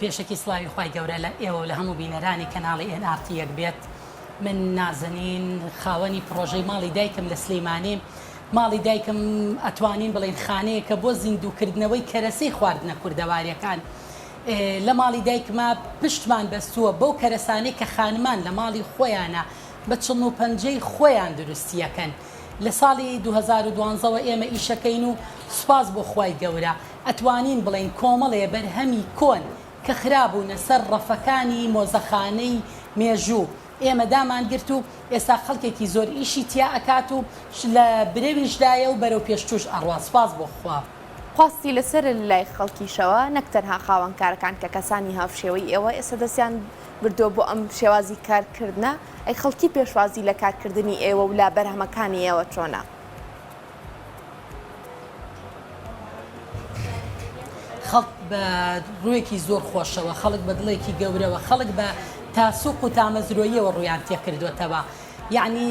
پێشەکی سڵاوی خی گەورە لە ئێوە لە هەموو بینەرانی کەناڵی ئێنارتی یەک بێت من نازەنین خاوەنی پرۆژەی ماڵی دایکم لە سلەیمانی ماڵی دایکم ئەتوانین بڵین خانەیە کە بۆ زیندووکردنەوەی کەرەسەی خواردنە کوردەواریەکان لە ماڵی دایکما پشتمان بەستووە بەو کەرەسانی کە خانمان لە ماڵی خۆیانە بە چڵ و پەنجەی خۆیان دروستیەکەن لە ساڵی دوو هەزار و دوازدە وە ئێمە ئیشەکەین و سوپاس بۆ خوای گەورە ئەتوانین بڵێین کۆمەڵێ بەرهەمی کۆن کە خرابوونە سەر ڕەفەکانی مۆزەخانەی مێژوو ئێمە دامانگرت و ئێستا خەڵکێکی زۆر ئیشی تیا ئەکات و لە برەویشدایە و بەرەو پێشتوش ئەڕوات سوپاس بۆ خوا. خواستی لەسەرە لەلای خەڵکیشەوە نەک تەنها خاوەن کارەکان کە کەسانی هاوشێوەی ئێوە ئێستا دەستیان بردووە بۆ ئەم شێوازی کارکردنە، ئەی خەڵکی پێشوازی لە کارکردنی ئێوە و لە بەرهەمەکانی ئێوە چۆنە؟ خەڵک بە ڕووێکی زۆر خۆشەوە، خەڵک بە دڵێکی گەورەوە، خەڵک بە تاسوق و تامەزرۆییەوە ڕوویان تێکردوێتەوە. یعنی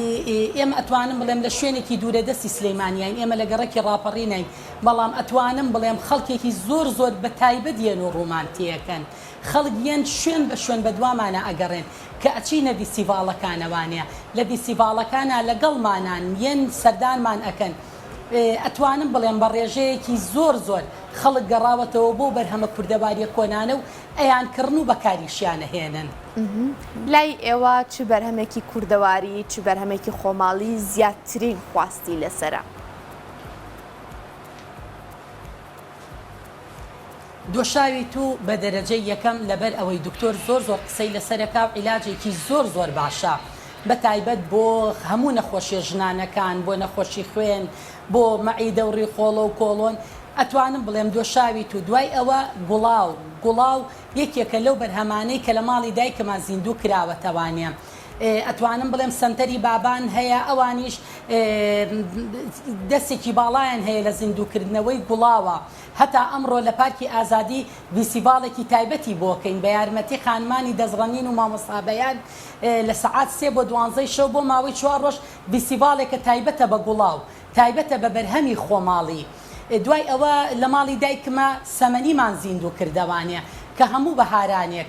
ئێمە ئەتوانم بڵێم لە شوێنێکی دوورە دەستی سلەیمانیین ئێمە لە گەڕەکی ڕاپەڕینین بەڵام ئەتوانم بڵێم خەڵکێکی زۆر زۆر بە تایبەت یەن و ڕوومان تێەکەن خەڵک یەن شوێن بە شوێن بەدوامانا ئەگەڕێن کە ئەچینە ڤیستیڤاڵەکانا وانیە لە ڤیستیڤاڵەکانا لەگەڵمانان یەن سەردانمان ئەکەن ئەتوانم بڵێم بە ڕێژەیەکی زۆر زۆر خەڵک گەڕاوەتەوە بۆ بەرهەمە کوردەواریە کۆنانە و ئەیان کڕن و بەکاریشیان ئەهێنن. لای ئێوە چ بەرهەمێکی کوردەواری چ بەرهەمێکی خۆماڵی زیاترین خواستی لەسەرە؟ دۆشاوی تو بە دەرەجەی یەکەم لەبەر ئەوەی دکتۆر زۆر زۆر قسەی لەسەرەکا و عیلاجێکی زۆر زۆر باشە بە تایبەت بۆ هەموو نەخۆشیە ژنانەکان بۆ نەخۆشی خوێن بۆ مەعیدە و ڕیخۆڵە و کۆڵۆن ئەتوانم بڵێم دۆشاوی تو دوای ئەوە گوڵاو گوڵاو یەکێکە لەو بەرهەمانەی کە لە ماڵی دایکما زیندوو کراوەتەوانێ ئەتوانم بڵێم سەنتەری بابان هەیە ئەوانیش دەستێکی باڵایان هەیە لە زیندووکردنەوەی گوڵاوە هەتا ئەمڕۆ لە پارکی ئازادی ڤیسیڤاڵێکی تایبەتی بۆکەین بە یارمەتی خانمانی دەزڕەنین و مامۆستابەیان لە سەعات سێ بۆ دوانزەی شەو بۆ ماوەی چوار ڕۆژ ڤیسیڤاڵێکە تایبەتە بە گوڵاو تایبەتە بە بەرهەمی خۆماڵی دوای ئەوە لە ماڵی دایکمە سەمەنیمان زیندووکردەوانێ کە هەموو بەهارانێک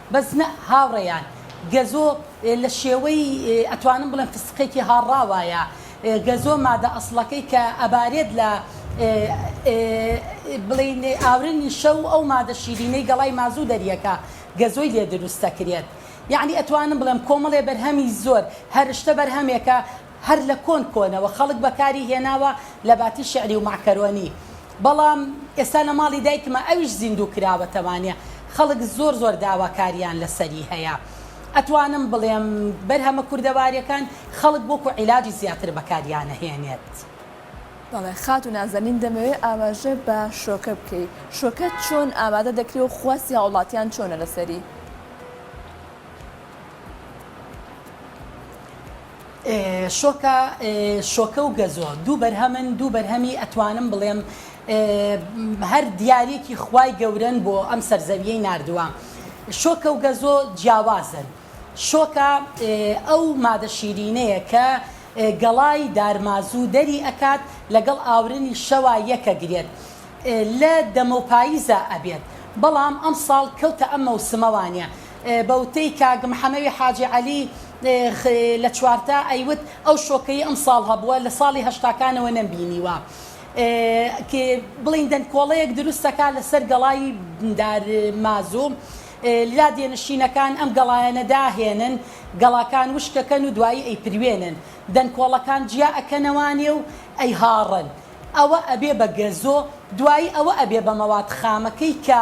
بەس نە هاوڕێیان گەزۆ لە شێوەی ئەتوانم بڵێم فستقێکی هاڕا وایە گەزۆ مادە ئەسڵەکەی کە ئەبارێت لە بڵین ئاورنی شە و ئەو مادە شیرینەی گەڵای مازوو دەریەکە گەزۆی لێ دروست دەکرێت یعنی ئەتوانم بڵێم کۆمەڵێ بەرهەمی زۆر هەرشتە بەرهەمێکە هەر لە کۆن کۆنەوە خەڵک بەکاری هێناوە لە باتی شعری و مەعکەرۆنی بەڵام ئێستا لە ماڵی دایکمە ئەویش زیندوو کراوەتەوانێ خەڵک زۆر زۆر داواکاریان لەسەری هەیە ئەتوانم بڵێم بەرهەمە کوردەواریەکان خەڵک وەکو عیلاجی زیاتر بەکاریانەهێنێت. بەڵێ خاتو نازەنین دەمەوێ ئاماژە بە شۆکە بکەی شۆکە چۆن ئامادە دەکرێ و خواستی هاوڵاتیان چۆنە لەسەری؟ شۆکە شۆکە و گەزۆ دوو بەرهەمن دوو بەرهەمی ئەتوانم بڵێم هەر دیارێکی خوای گەورن بۆ ئەم سەرزەویەی نردووە شۆکە و گەزۆ جیاوازن شۆکە ئەو مادە شیرینەیە کە گەڵای دارمازوو دەری ئەکات لەگەڵ ئاورنی شەوا یەکە گرێت لە دەمە و پاییزە ئەبێت بەڵام ئەم ساڵ کەوتە ئەم مەوسمەوانە بە وتەی کاک محەمەوی حاجی عەلی خ لە چوارتا ئەیوت ئەو شۆکەی ئەمساڵ هەبووە لە ساڵی هەشتاکانەوە نەمبینیوە ک بڵێین دەنکۆڵەیەک دروستەکا لە سەر گەڵای دارمازو لادێنشینەکان ئەم گەڵایەنە داهێنن گەڵاکان وشکەکەن و دوایی ئەیپروێنن دەنکۆڵەکان جیا ئەکەنەوانێ و ئەیهاڕن ئەوە ئەبێ بە گەزۆ دوایی ئەوە ئەبێ بە مەواد خامەکەی کە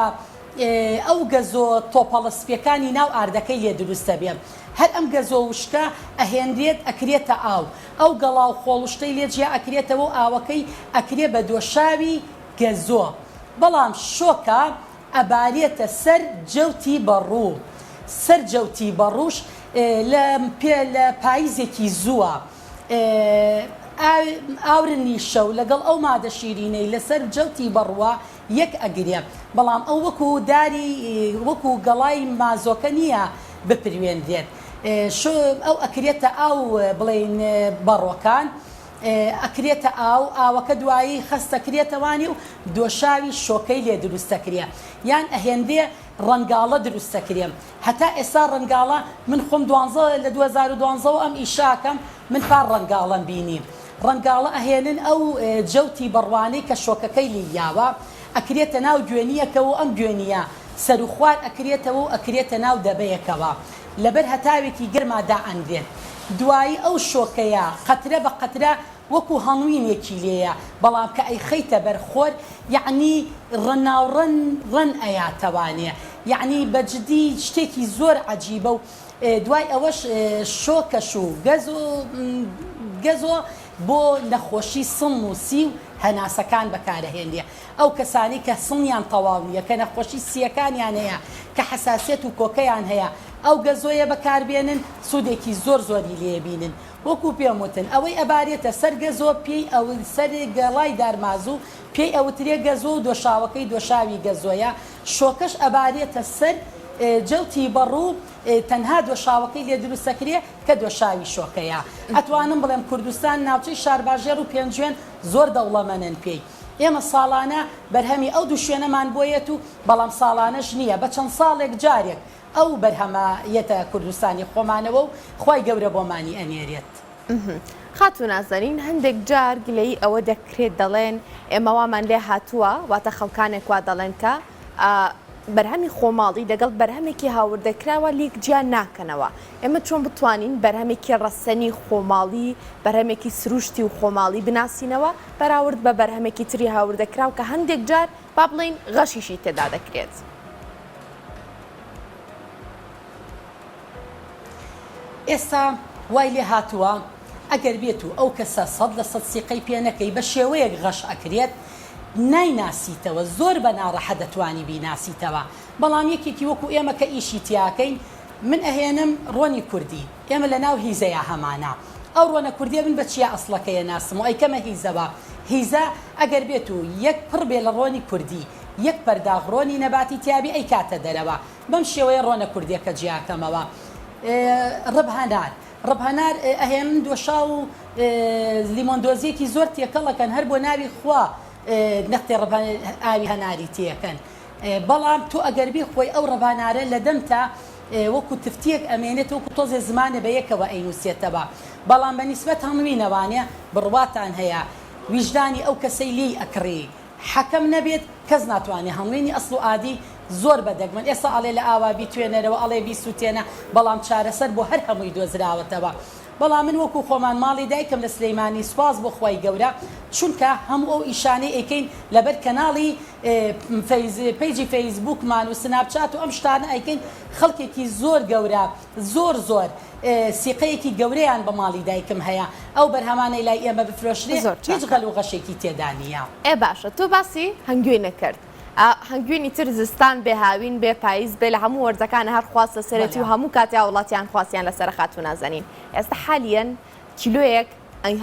ئەو گەزۆ تۆپەڵە سپیەکانی ناو ئاردەکەی لێ دروست دەبێ هەر ئەم گەزۆ وشکە ئەهێنرێت ئەکرێتە ئاو ئەو گەڵا و خۆڵشتەی لێ جیا ئەکرێتەوە و ئاوەکەی ئەکرێ بە دۆشاوی گەزۆ بەڵام شۆکە ئەبارێتە سەر جەوتی بەڕوو سەر جەوتی بەڕووش لە پێ لە پاییزێکی زووە ئاورنی شەو لەگەڵ ئەو مادە شیرینەی لەسەر جەوتی بەڕووە یەک ئەگرێ بەڵام ئەو وەکو داری وەکو گەڵای مازۆکە نییە بپریوێنرێت شو ئەو ئەکرێتە ئاو بڵێین بەڕۆکان ئەکرێتە ئاو ئاوەکە دوایی خەستەکرێتەوانی و دۆشاوی شۆکەی لێ دروستەکرێ یان ئەهێنرێ ڕەنگاڵە دروستەکرێ هەتا ئێستا ڕەنگاڵە من خۆم دوانزە لە 2012 ئەم ئیشاکەم من پار ڕەنگاڵەم بینی ڕەنگاڵە ئەهێنن ئەو جەوتی بەڕوانەی کە شۆکەکەی لێی یاوە ئەکرێتە ناو گوێنییەکەوە و ئەم گوێنییە سەرو خوار ئەکرێتەوە و ئەکرێتە ناو دەبەیەکەوە لەبەر هەتاوێکی گەرما دائەنرێت دوایی ئەو شۆکەیە قەترە بە قەترە وەکو هەڵوینێکی لێیە بەڵام کە ئەیخەیتە بەر خۆر یەعنی ڕناوڕەن ڕەن ئەیاتەوانێ یەعنی بە جدی شتێکی زۆر عەجیبە و دوای ئەوەش شۆکەش و گەزۆ گەزۆ بۆ نەخۆشی سڵ و سی و هەناسەکان بەکارەهێنرێ ئەو کەسانی کە سڵیان تەواو نیە کە نەخۆشی سیەکانیان هەیە کە حەساسیەت و کۆکەیان هەیە ئەو گەزۆیە بەکاربێنن سودێکی زۆر زۆری لێ بینن وەکو پێم وتن ئەوەی ئەبارێتە سەر گەزۆ پێی ئەون سەر گەڵای دارمازو پێی ئەوترێ گەزۆ و دۆشاوەکەی دۆشاوی گەزۆیە شۆکەش ئەبارێتە سەر جەوتی بەڕ و تەنها دۆشاوەکەی لێ دروست ئەکرێ کە دۆشاوی شۆکەیە. ئەتوانم بڵێم کوردستان ناوچەی شارباژێڕ و پێنجوێن زۆر دەوڵەمەنن پێی. ئێمە ساڵانە بەرهەمی ئەو دوو شوێنەمان بۆ یەت و بەڵام ساڵانەش نییە بە چەند ساڵێک جارێک ئەو بەرهەمە یەتە کوردستانی خۆمانەوە و خوای گەورە بۆمانی ئەنێرێت. ئهمم خاتوو نازەنین هەندێک جار گلەیی ئەوە دەکرێت دەڵێن ئێمە وامان لێ هاتووە واتە خەڵکانێک وا دەڵێن کە بەرهەمی خۆماڵی دەگەڵ بەرهەمێکی هاوردەکراوە لیک جیان ناکەنەوە ئێمە چۆن بتوانین بەرهەمێکی ڕەسەنی خۆماڵی بەرهەمێکی سروشتی و خۆماڵی بناسینەوە بەراورد بە بەرهەمێکی تری هاوردەکراو کە هەندێک جار با بڵین غەشیشی تێدا دەکرێت. ئێستا وای لێ هاتووە ئەگەر بێت و ئەو کەسە سەد لە سەد سیقەی پێ نەکەی بە شێوەیەک غەش ئەکرێت نایناسیتەوە زۆر بە ناڕەحەت دەتوانی بیناسیتەوە بەڵام یەکێکی وەکو ئێمە کە ئیشی تیاکەین من ئەهێنم ڕۆنی کوردی ئێمە لە ناو هیزەیا هەمانە ئەو ڕۆنە کوردیە من بە چیا ئەسڵەکەیە ناسم و ئەیکەمە هیزەوە هیزە ئەگەر بێت و یەک پڕ بێ لە ڕۆنی کوردی یەک پەرداغ ڕۆنی نەباتی تیابێ ئەیکاتە دەرەوە بەم شێوەیە ڕۆنە کوردیەکە جیاکەمەوە ڕبهنار ڕبهنار ئەهێنن دۆشاو و لیمۆن دۆزیەکی زۆر تێکەڵەکەن هەر بۆ ناوی خوا نەختێ ڕبە ئاوی هەناری تێەکەن بەڵام تۆ ئەگەربی خۆی ئەو ڕبانارە لە دەمتا وەکو تفتیەک ئەمێنێت وەکو تۆزێ زمانە بە یەکەوە ئەینوسێتەوە بەڵام بە نیسبەت هەڵموینەوانێ بڕواتان هەیە ویژدانی ئەو کەسەی لێی ئەکڕی حەکەم نەبێت کەس ناتوانێت هەڵمێنی ئەسڵ و ئادی زۆر بە دەگمەن ئێستا ئەڵێ لە ئاوا بیتوێنەرەوە ئەڵێ بیسوتێنە بەڵام چارەسەر بۆ هەر هەمووی دۆزراوەتەوە بەڵام من وەکو خۆمان ماڵی دایکم لە سلیمانی سوپاس بۆ خوای گەورە چونکە هەموو ئەو ئیشانەی ئەیکەین لەبەر کەناڵی فەیز پەیجی فەیس بوکمان و سناپ چات و ئەم شتانە ئەیکەین خەڵکێکی زۆر گەورە زۆر زۆر سیقەیەکی گەورەیان بە ماڵی دایکم هەیە ئەو بەرهەمانەی لای ئێمە بفرۆشرێ هیچ غەل و غەشێکی تێدا نییە. ئێ باشە تۆ باسی هەنگوینە کرد ئا هەنگوینی تر زستان بێ هاوین بێ پایز بێ لە هەموو وەرزەکانە هەر خواست لەسەرێتی و هەموو کاتێ هاوڵاتیان خواستیان لەسەرە خاتوو نازەنین ئێستا حالیەن کیلۆیەک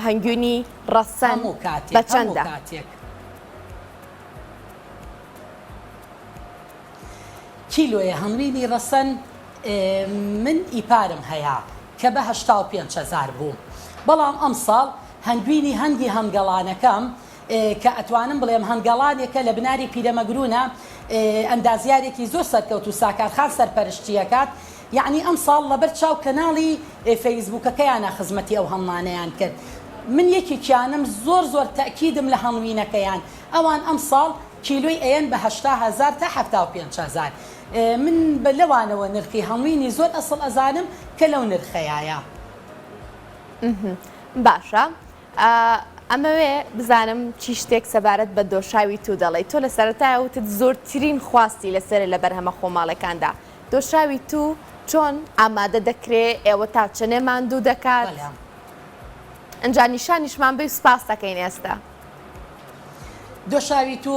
هەنگوینی ڕەسەن بە چەندە؟ کیلۆیە هەنگوینی ڕەسەن. من ئیپارم هەیە کە بە هەشتا و پێنج هەزار بوو بەڵام ئەمساڵ هەنگوینی هەنگی هەنگەڵانەکەم کە ئەتوانم بڵێم هەنگەڵانێکە لە بناری پیرەمەگرونە ئەندازیارێکی زۆر سەرکەوت و ساکارخان سەرپەرشتیەکات یعنی ئەم ساڵ لەبەر چاو کەناڵی فەیسبووکەکەیانە خزمەتی ئەو هەنڵانەیان کرد من یەکێکیانم زۆر زۆر تەکیدم لە هەنڵوینەکەیان ئەوان ئەم ساڵ کیلۆی ئەیەن بە هەشتا هەزار تا حەفتا و پێنج هەزار من بە لەوانەوە نرخی هەڵمینی زۆر ئەسڵ ئەزانم کە لەو نرخەیایە. باشە ئەمەوێ بزانم چی شتێک سەبارەت بە دۆشاوی تو دەڵێیت تۆ لە سەرەتای وتت زۆرترین خواستی لەسەر لە بەرهەمە خۆماڵەکاندا دۆشاوی تو چۆن ئامادە دەکرێ ئێوە تا چنێ ماندوو دەکات ئەجا نیشانیشمان بی سپاس دەکەین ئێستا دۆشاوی تو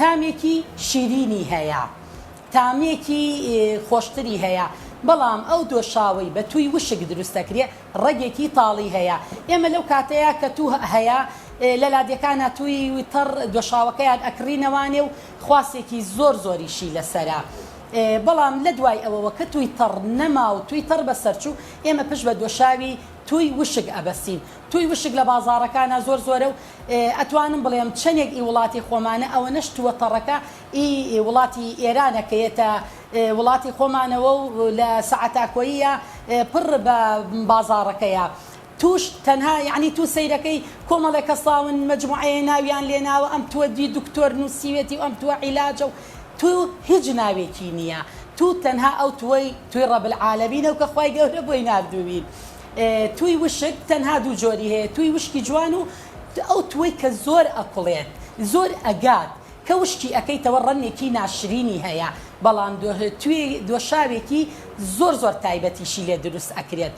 تامێکی شیرینی هەیە تامێکی خۆشتری هەیە بەڵام ئەو دۆشاوەی بە تووی وشک دروست دەکرێ ڕەگێکی تاڵی هەیە ئێمە لەو کاتەیا کە توو هەیە لە لادێکانا تووی تەڕ دۆشاوەکەیان ئەکڕینەوانێ و خواسێکی زۆر زۆریشی لەسەرە بەڵام لە دوای ئەوەوە کە تووی تەڕ نەما و تووی تەڕ بەسەرچوو ئێمە پشت بە دۆشاوی تووی وشک ئەبەستین تووی وشک لە بازاڕەکانا زۆر زۆرە و ئەتوانم بڵێم چەنێک ئی وڵاتی خۆمانە ئەوەنەش توەتەڕەکە ئی وڵاتی ئێرانە کە یەتە وڵاتی خۆمانەوە و لە سەعەتاکۆییە پڕ بە بازاڕەکەیە تووش تەنها یەعنی توو سەیرەکەی کۆمەڵێ کەساون مەجموعەیە ناویان لێ ناوە ئەم تووە دی دکتۆر نووسیوێتی و ئەم تووە عیلاجە و توو هیچ ناوێکی نییە توو تەنها ئەو تووەی تووی ڕەب العالمینە و کە خوای گەورە بۆی ناردووی. تووی وشک تەنها دوو جۆری هەیە تووی وشکی جوان و ئەو تووەی کە زۆر ئەکوڵێت زۆر ئەگات کە وشکی ئەکەیتەوە ڕەنگێکی ناشرینی هەیە بەڵام تووی دۆشاوێکی زۆر زۆر تایبەتیشی لێ دروست ئەکرێت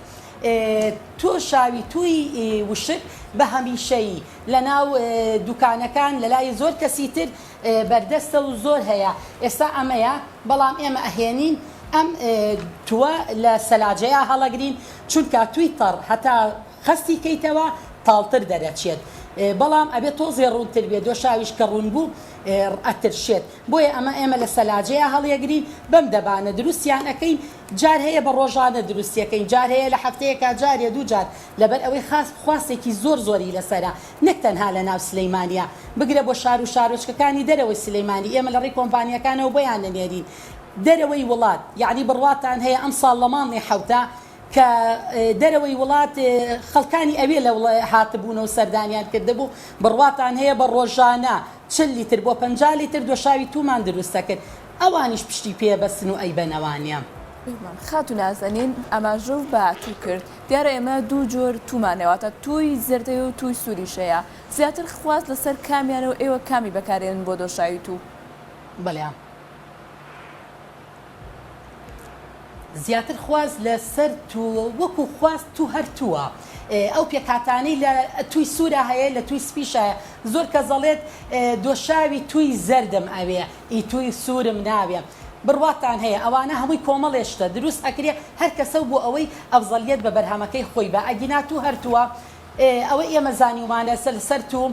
تۆشاوی تووی وشک بە هەمیشەیی لە ناو دوکانەکان لە لای زۆر کەسی تر بەردەستە و زۆر هەیە ئێستا ئەمەیە بەڵام ئێمە ئەهێنین ئەم تووە لە سەلاجەیا هەڵەگرین چونکا تووی تەڕ هەتا خەستی کەیتەوە تاڵتر دەرەچێت بەڵام ئەبێ تۆزێ ڕوونتر بێ دۆشاویش کە ڕوون بوو ئەترشێت بۆیە ئەمە ئێمە لە سەلاجەیە هەڵیەگرین بەم دەبانە دروستیان ئەەکەین جار هەیە بە ڕۆژانە دروستیەکەین جار هەیە لە هەفتەیەکە جارێ دوو جار لەبەر ئەوەی خاست خواستێکی زۆر زۆری لەسرە نەک تەنها لە ناو سلیمانیە بگرە بۆ شارو شارۆچکەکانی دەرەوەی سلیمانی ئێمە لەڕێی کۆمپانیاکانەوە بۆیان نەنێرین دەرەوەی وڵات یەعنی بڕواتان هەیە ئەمساڵ لە مانگی حەوتە کە دەرەوەی وڵات خەڵکانی ئەوێ لە وڵا هاتبونەوە سەردانیان کردبوو بڕواتان هەیە بە ڕۆژانە چل لیتر بۆ پەنجا لیتر دۆشاوی تومان دروست دەکرد ئەوانیش پشتی پێ بەستن و ئەیبەنەوانیە. پێمان خاتو نازەنین ئاماژە و بە تو کرد دیارە ئێمە دوو جۆر توومان هەیە، واتە تووی زەرد هەیە و تووی سووریش هەیە، زیاتر خواست لەسەر کامیانە و ئێوە کامی بەکارێنن بۆ دۆشاوی توو؟ بەڵێ زیاتر خواست لە سەر توو وەکو خواست توو هەر تووە ئەو پێکهاتانەی لە تووی سوورا هەیە لە تووی سپیشە زۆر کەس دەڵێت دۆشاوی تووی زەردم ئەوێ ئی تووی سوورم ناوێ بڕواتان هەیە ئەوانە هەمووی کۆمەڵێ شتە دروست ئەکرێ هەر کەسەو بۆ ئەوەی ئەفزەلیەت بە بەرهەمەکەی خۆی با ئەگینا توو هەر تووە ئەوەی ئێمە زانیومانە سەر سەر توو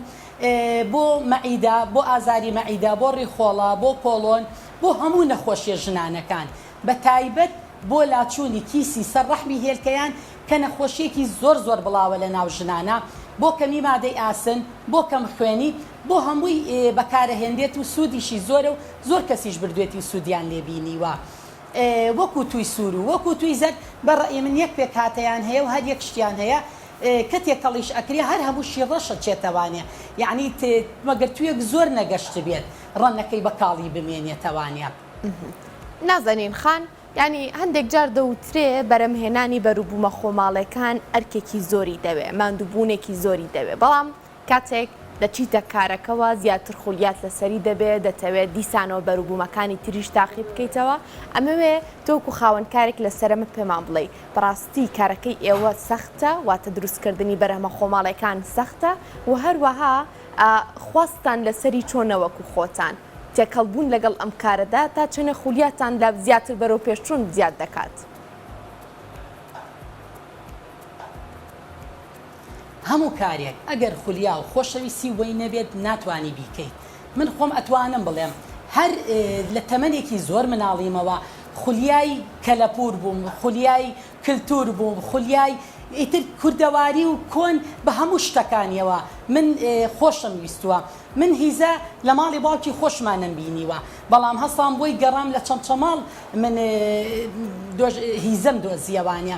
بۆ مەعیدە بۆ ئازاری مەعیدە بۆ ڕیخۆڵە بۆ کۆڵۆن بۆ هەموو نەخۆشیە ژنانەکان بە تایبەت بۆ لاچوونی کیسی سەر ڕەحمی هێلکەیان کە نەخۆشیەکی زۆر زۆر بڵاوە لە ناو ژنانا بۆ کەمی مادەی ئاسن بۆ کەم خوێنی بۆ هەمووی بەکارەهێنرێت و سوودیشی زۆرە و زۆر کەسیش بردوێتی و سوودیان لێ بینیوە وەکو تووی سوور و وەکو تووی زەرد بە ڕەئی من یەک پێکهاتەیان هەیە و هەر یەک شتیان هەیە کە تێکەڵیش ئەکرێ هەر هەمووشی ڕەش ئەچێتەوانێ یەعنی مەگەر توویەک زۆر نەگەشتبێت ڕەنگەکەی بە کاڵی بمێنێتەوانێ. نازەنین خان، یەعنی هەندێک جار دەوترێ بەرەمهێنانی بەروبوومە خۆماڵێکان ئەرکێکی زۆری دەوێ، ماندووبوونێکی زۆری دەوێ بەڵام کاتێک دەچیتە کارەکەوە زیاتر خولیات لەسەری دەبێت، دەتەوێت دیسانەوە بەروبوومەکانی تریش تاقی بکەیتەوە، ئەمەوێ تۆ وەکو خاوەن کارێک لە سەرەمە پێمان بڵێی بەڕاستی کارەکەی ئێوە سەختە واتە دروستکردنی بەرهەمە خۆماڵیەکان سەختە و هەروەها خواستتان لەسەری چۆنە وەکو خۆتان تێکەڵ بوون لەگەڵ ئەم کارەدا تا چەنە خولیاتان لە زیاتر بەرەو پێشچوون زیاد دەکات؟ هەموو کارێک ئەگەر خولیا و خۆشەویستی وەی نەبێت ناتوانی بیکەیت من خۆم ئەتوانم بڵێم هەر لە تەمەنێکی زۆر مناڵیمەوە خولیای کەلەپوور بووم خولیای کلتوور بووم خولیای ئیتر کوردەواری و کۆن بە هەموو شتەکانیەوە من خۆشم ویستووە من هیزە لە ماڵی باوکی خۆشمان نەم بینیوە بەڵام هەستام بۆی گەڕام لە چەمچەماڵ من هیزەم دۆزیەوانە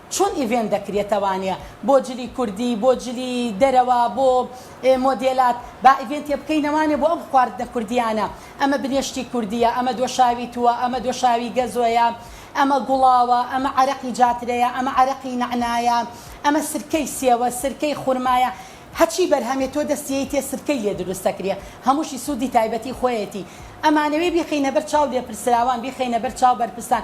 چۆن ئیڤێنت دەکرێتەوانە بۆ جلی کوردی بۆ جلی دەرەوە بۆ مۆدێلات با ئیڤێنتێ بکەینەوانە بۆ ئەم خواردنە کوردیانە ئەمە بنێشتی کوردیە ئەمە دۆشاوی تووە ئەمە دۆشاوی گەزۆیە ئەمە گوڵاوە ئەمە عەرەقی جاترەیە ئەمە عەرەقی نەعنایە ئەمە سرکەی سێوە سرکەی خورمایە هەچی بەرهەمێ تۆ دەست یەیتێ سرکەی لێ دروست دەکرێ هەمووشی سوودی تایبەتی خۆیەتی ئەمانەوێ بیخەینە بەر چاو لێپرسراوان بیخەینە بەر چاو بەرپرسان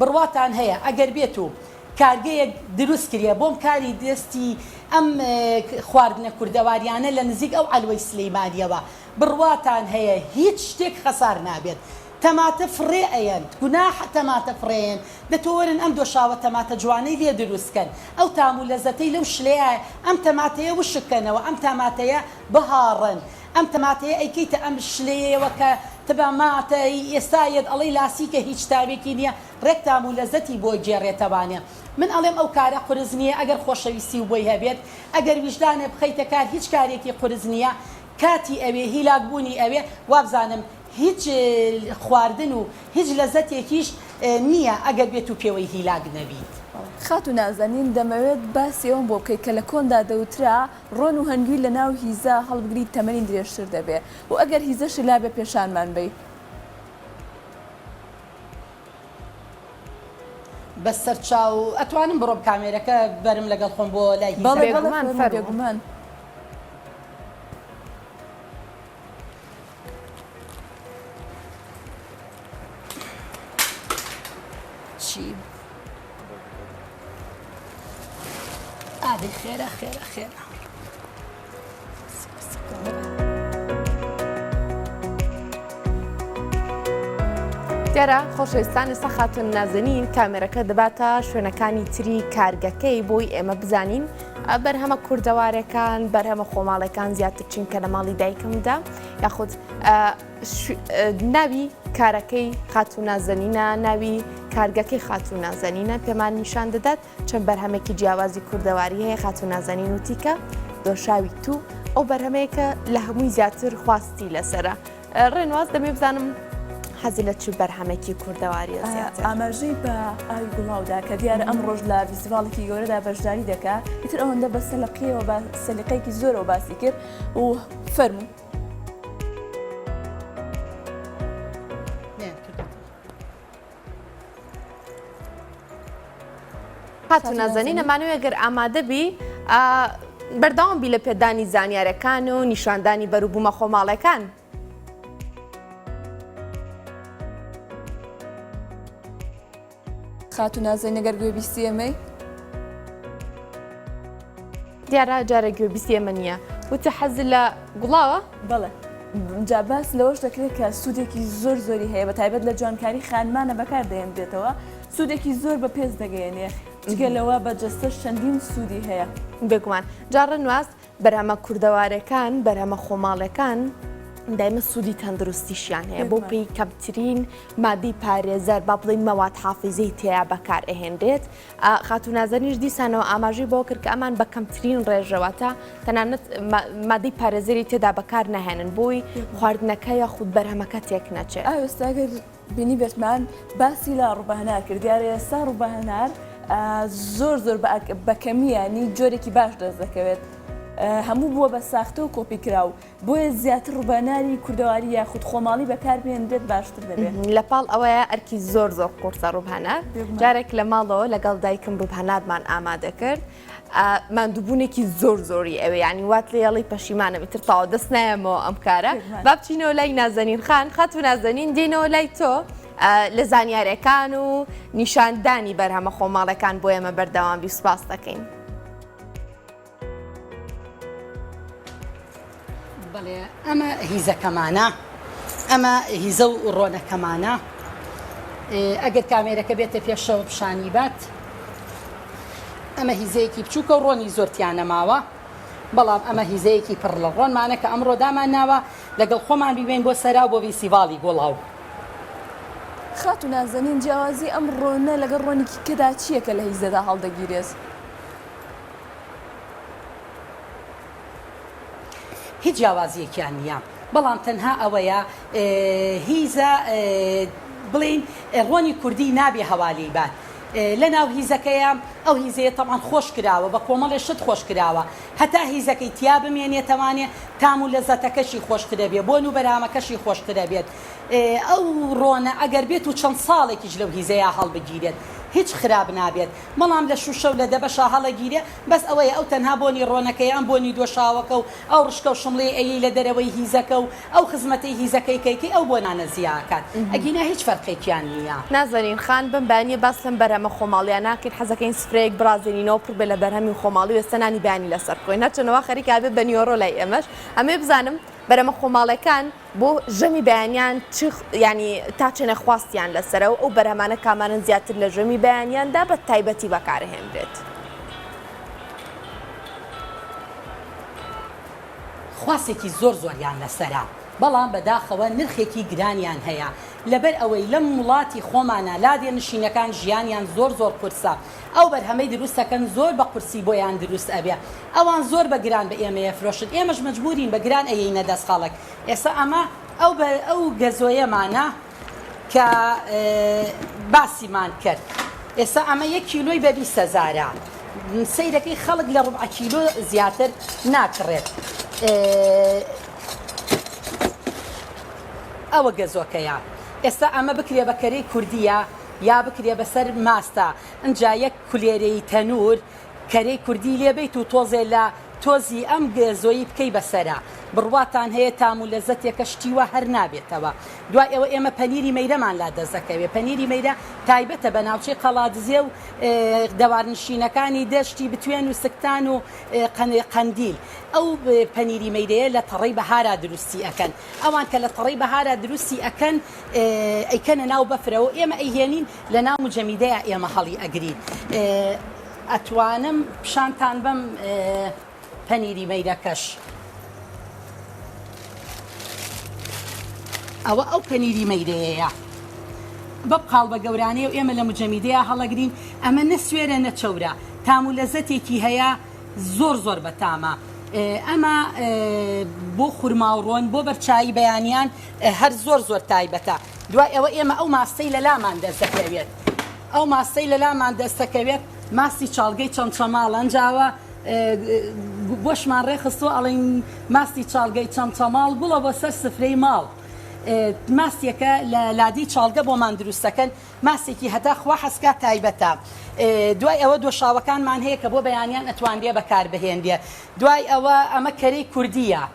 بڕواتان هەیە ئەگەر بێت و کارگەیەک دروست کرێ بۆم کاری دەستی ئەم خواردنە کوردەواریانە لە نزیک ئەو عەلوەی سلیمانیەوە بڕواتان هەیە هیچ شتێک خەسار نابێت تەماتە فڕێ ئەیەن گوناحە تەماتە فڕێیەن دە تۆ وەرن ئەم دۆشاوە تەماتە جوانەی لێ دروست کەن ئەو تام و لەزەتەی لەو شلەیە ئەم تەماتەیە وشک کەنەوە ئەم تاماتەیە بهاڕن ئەم تەماتەیە ئەیکەیتە ئەم شلەیەیەوە کە تبا ما تە ی ئێستا یەت ئەڵێی لاسیکە هیچ تاوێکی نیە ڕێک تام و لەزەتی بۆ گێڕێتەوانێ من ئەڵێم ئەو کارە قورس نیە ئەگەر خۆشەویستی و بۆی هەبێت ئەگەر ویژدانێ بخەیتە کار هیچ کارێکی قورس نیە کاتی ئەوێ هیلاک بوونی ئەوێ وابزانم هیچ خواردن و هیچ لەزەتێکیش نیە ئەگەر بێت و پێوەی هیلاک نەبیت. خاتو نازەنین دەمەوێت باسی ئەوەم بۆ بکەی کە لە کۆندا دەوترا ڕۆن و هەنگوین لە ناو هیزە هەڵبگریت تەمەنی درێژتر دەبێ و ئەگەر هیزەشی لابێ پێشانمان بەی. بەسەرچاو ئەتوانم بڕۆم کامێرەکە بەرم لەگەڵ خۆم بۆ لای هیزەکە؟ بەڵێ بەڵێ فەرموو بێگومان. چی؟ ئادی خێرە خێرە خێرە دیارە خۆشەویستان ئێستا خاتون نازنین کامێرەکە دەباتە شوێنەکانی تری کارگەکەی بۆی ئێمە بزانین بەرهەمە کوردەوارەکان، بەرهەمە خۆماڵێکان زیاتر چونکە لە ماڵی دایکمدا یاخود ناوی کارەکەی خاتو نازەنینە ناوی کارگەکەی خاتو نازەنینە پێمان نیشان دەدات چەند بەرهەمێکی جیاوازی کوردەواری هەیە خاتو نازەنین وتیکە دۆشاوی تو ئەو بەرهەمەیەکە لە هەمووی زیاتر خواستی لەسرە ڕێنواز دەمێ بزانم حەزی لە چ بەرهەمێکی کوردەواری زیاتر ئاماژەی بە ئاوی گوڵاودا کە دیارە ئەم ڕۆژ لە فیستیڤاڵێکی گەورەدا بەشداری دەکا ئیتر ئەوەندە بە سەلقیەوە بە سەلیقەیەکی زۆرەوە باسی کرد و فەرمو خاتو نازەنین ئەمانەوێ گەر ئامادە بی بەرداوام بی لە پێدانی زانیارەکان و نیشاندانی بەروبوومە خۆماڵەکان. خاتو نازەنین گەر گوێ بیستی ئەمەی دیارە جارە گوێبیسی ئێمە نییە وتە حەز لە گوڵاوە بەڵێ جا باس لەوەش دەکرێت کە سوودێکی زۆر زۆری هەیە بە تایبەت لە جوانکاری خانمانە بەکار دەێنرێتەوە سوودێکی زۆر بە پێست دەگەیەنێ جگە لەوە بە جەستەش چەندین سوودی هەیە بێگومان جاڕە نواز بەرهەمە کوردەوارەکان بەرهەمە خۆماڵەکان دایمە سوودی تەندروستیشیان هەیە بۆ پێی کەمترین مادی پارێزەر با بڵین مەواد حافزەی تێیا بەکار ئەهێنرێت خاتوو نازەنینش دیسانەوە ئاماژەی بەوە کرد کە ئەمان بە کەمترین ڕێژە واتە تەنانەت مادەی پارێزەری تێدا بەکار ناهێنن بۆی خواردنەکە یاخود بەرهەمەکە تێک نەچێت ئاوێستاگەر بینی بێتمان باسی لە ڕوبەهنار کرد دیارە ئێستا ڕوبەهنار زۆر زۆر بەکەمیانی جۆرێکی باش دەست دەکەوێت هەموو بووە بە ساختە و کۆپی کراو بۆیە زیاتر ڕوبەناری کوردەواری یاخود خۆماڵی بەکار بهێنرێت باشتر دەبێت. لە پاڵ ئەوەیە ئەرکی زۆر زۆر قورسە ڕوبهنار جارێک لە ماڵەوە لەگەڵ دایکم ڕوبهنارمان ئامادە کرد ماندوبونێکی زۆر زۆری ئەوێ یانی وات لێ یەڵی پەشیمانم ئیتر تاوە دەست نایەمەوە ئەم کارە با بچینەوە لای نازەنین خان خاتو نازەنین دێنەوە لای تۆ لە زانیارەکان و نیشاندانی بەرهەمە خۆماڵەکان بۆ ئێمە بەردەوام بی سوپاس دەکەین. بەڵێ ئەمە هیزەکەمانە ئەمە هیزە و ڕۆنەکەمانە ئەگەر کامێرەکە بێتە پێشەوە پیشانی بات ئەمە هیزەیەکی بچووکە و ڕۆنی زۆرتیانە ماوە بەڵام ئەمە هیزەیەکی پڕ لە ڕۆنمانە کە ئەمڕۆ دامان ناوە لەگەڵ خۆمان بیبین بۆ سەرا بۆ ویسیڤاڵی گۆڵاو خاتو نازەنین جیاوازی ئەم ڕۆنە لەگەڵ ڕۆنیکی کەدا چییە کە لە هیزەدا هەڵدەگیرێت هیچ جیاوازیەکیان نیە بەڵام تەنها ئەوەیە هیزە بڵین ڕۆنی کوردی نابێ هەوالی بات لە ناو هیزەکەیە ئەو هیزەیە تەمان خۆش کراوە بە کۆمەڵێ شت خۆش کراوە هەتا هیزەکەی تیا بمێنێتەوانێ تام و لە زەتەکەشی خۆشترە بێ بۆن و بەرامەکەشی خۆشترە بێت ئەو ڕۆنە ئەگەر بێت و چەند ساڵێکیش لەو هیزەیە هەڵبگیرێت هیچ خراپ نابێت بەڵام لە شوشە و لە دەبەشا هەڵەگیرێ بەس ئەوەیە ئەو تەنها بۆنی ڕۆنەکەیە ئەم بۆنی دۆشاوەکە و ئەو ڕشکە و شمڵیەی ئەیەی لە دەرەوەی هیزەکە و ئەو خزمەتەی هیزەکەی کەی کەی ئەو بۆنانە زیا ئەکات ئەگینا هیچ فەرقێکیان نیە. نازەنین خان، بەم بەیانییە باس لەم بەرهەمە خۆماڵییە ناکەین، حەزەکەین سفرەیەک بڕازێنینەوە پڕ بێ لە بەرهەمی خۆماڵی و ئێستا نانی بەیانی لەسەر بخۆین، هەرچەندە وا خەریکە ئەبێ بە نیوەڕۆ لای ئێمەش، ئەمەوێ بزانم بەرەمە خۆماڵێکان، بۆ ژەمی بەیانیان چ یانی تا چەنە خواستیان لەسەرە و ئەو بەرهەمانە کامانەن زیاتر لە ژەمی بەیانیاندا بە تایبەتی بەکارهێنرێت؟ خواستێکی زۆر زۆریان لەسەرە بەڵام بەداخەوە نرخێکی گرانیان هەیە لەبەر ئەوەی لەم وڵاتی خۆمانا لادێ نشینەکان ژیانیان زۆر زۆر قورسە. ئەو بەرهەمەی دروست ئەکەن زۆر بە قورسی بۆیان دروست ئەبێ ئەوان زۆر بە گران بە ئێمە ئەفرۆشن ئێمەش مەجبورین بە گران ئەیەینە دەست خەڵک ئێستا ئەمە ئەو بە ئەو گەزۆیەمانە کە باسیمان کرد ئێستا ئەمە یەک کیلۆی بە بیست هەزارە سیرەکەی خەڵک لە ڕبع کیلۆ زیاتر ناکڕێت ئەوە گەزۆکەیە ئێستا ئەمە بکرێ بە کەرەی کوردیە یا بکرێ بەسەر ماستە ئنجا یەک کولێرەی تەنور کەرەی کوردی لێ بەیت و تۆزێ لە تۆزی ئەم گێزۆی بکەی بەسەرا بڕواتان هەیە تام و لەزەتێکە شتی وا هەر نابێتەوە دوای ئەوە ئێمە پەنیری مەیرەمان لا دەست دەکەوێ پەنیری مەیرە تایبەتە بە ناوچەی قەڵادزێ و دەوارنشینەکانی دەشتی بتوێن و سکتان و قەندیل ئەو پەنیری مەیرەیە لە تەڕەی بەهارا دروستی ئەکەن ئەوان کە لە تەڕەی بەهارا دروستی ئەکەن ئەیکەنە ناو بەفرەوە ئێمە ئەیهێنین لە ناو مجەمیدەیە ئێمە هەڵی ئەگرین ئەتوانم پیشانتان بەم پەنیری مەیرەکەش ئەوە ئەو پەنیری مەیرەیەیە بەم قاڵ بە گەورانەیە و ئێمە لە مجەمیدەیە هەڵەگرین ئەمە نە سوێرە نە چەورە تام و لەزەتێکی هەیە زۆر زۆر بەتامە ئەمە بۆ خورماوڕۆن بۆ بەرچایی بەیانیان هەر زۆر زۆر تایبەتە دوای ئەوە ئێمە ئەو ماستەی لە لامان دەستەکەوێت ئەو ماستەی لە لامان دەستەکەوێت ماستی چاڵگەی چەند چەماڵ ئەنجاوە بۆشمان ڕێخستۆ ئەڵین ماستی چاڵگەی چەند چەماڵ گوڵە بۆ سەر سفرەی ماڵ ماسیەکە لە لادی چاڵگە بۆمان دروستەکەن ماسێکی هەتا خوا حەسکا تایبەتە دوای ئەوە دۆشاوەکانمان هەیە کە بۆ بەیانیان ئەتوانرێ بەکاربهێنرێ دوای ئەوە ئەمە کەرەی کوردیە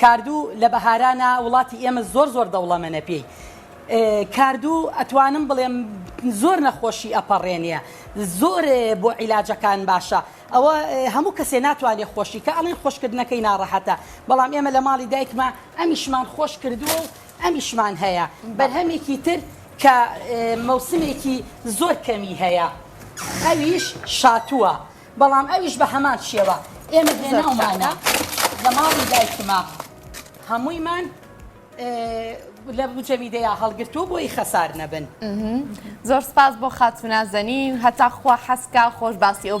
کاردوو لە بەهارانە وڵاتی ئێمە زۆر زۆر دەوڵەمەنە پێی کاردوو ئەتوانم بڵێم زۆر نەخۆشی ئەپەڕێنە زۆر بۆ عیلاجەکان باشە ئەوە هەموو کەسێ ناتوانێت خۆشی کە ئەڵین خۆشکردنەکەی ناڕەحەتە بەڵام ئێمە لە ماڵی دایکمە ئەمیشمان خۆش کردووە و ئەمیشمان هەیە بەرهەمێکی تر کە مەوسمێکی زۆر کەمی هەیە ئەویش شاتووە بەڵام ئەویش بە هەمان شێوە ئێمە هێناومانە لە ماڵی دایکما هەموویمان لە بجەمی دەیا هەڵگرتووە بۆی خەسار نەبن زۆر سپاس بۆ خاتونازەنین هەتا خوا حەسکا خۆش باسی ئەو